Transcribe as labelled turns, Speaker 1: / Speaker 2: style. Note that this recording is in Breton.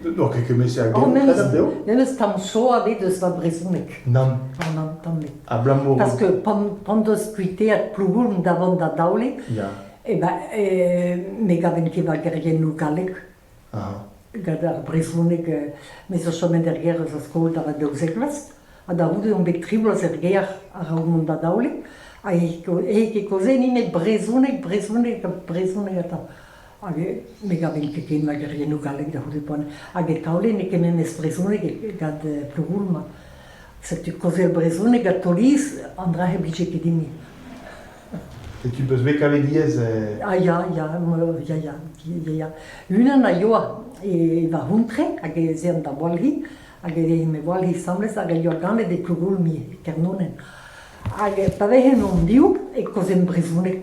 Speaker 1: N'oc'h ket kement-se a genpreder dezho N'en eus tamm cho ebet eus va brezhoneg. Nann. Oh, nann, tamm ebet. Abalamour... Parce que pan deus kuiteet Plougoulm da vont da daolit, ya. e ben, ne gaven ket va geriennoù gallek. Gant ar brezhoneg, me zo chomet er gêr eus ar skol da va daouzek vloaz, ha da c'houde on bet tri bloaz er gêr a-raok mont da daolit, ha e ket kaozein nemet brezhoneg, brezhoneg, brezhoneg atav. Hag me gavin ket ken mageriennoù gallek da c'houde poan. Hag e taolenn ket memes brezhoneg gant Plogoulma. Setu kaozel brezhoneg ha Toliz, an dra-se blije ket dimp. Et tu peus bet kavet diaes Ah ya, ya, ya, ya, ya, ya. Unan a yoa e va c'hontre hag ez ean da Walhi, hag e me Walhi asambles hag a yoa ganet e Plogoulmi, Kernonen. Hag pa vezen hon div e kozen brezhoneg.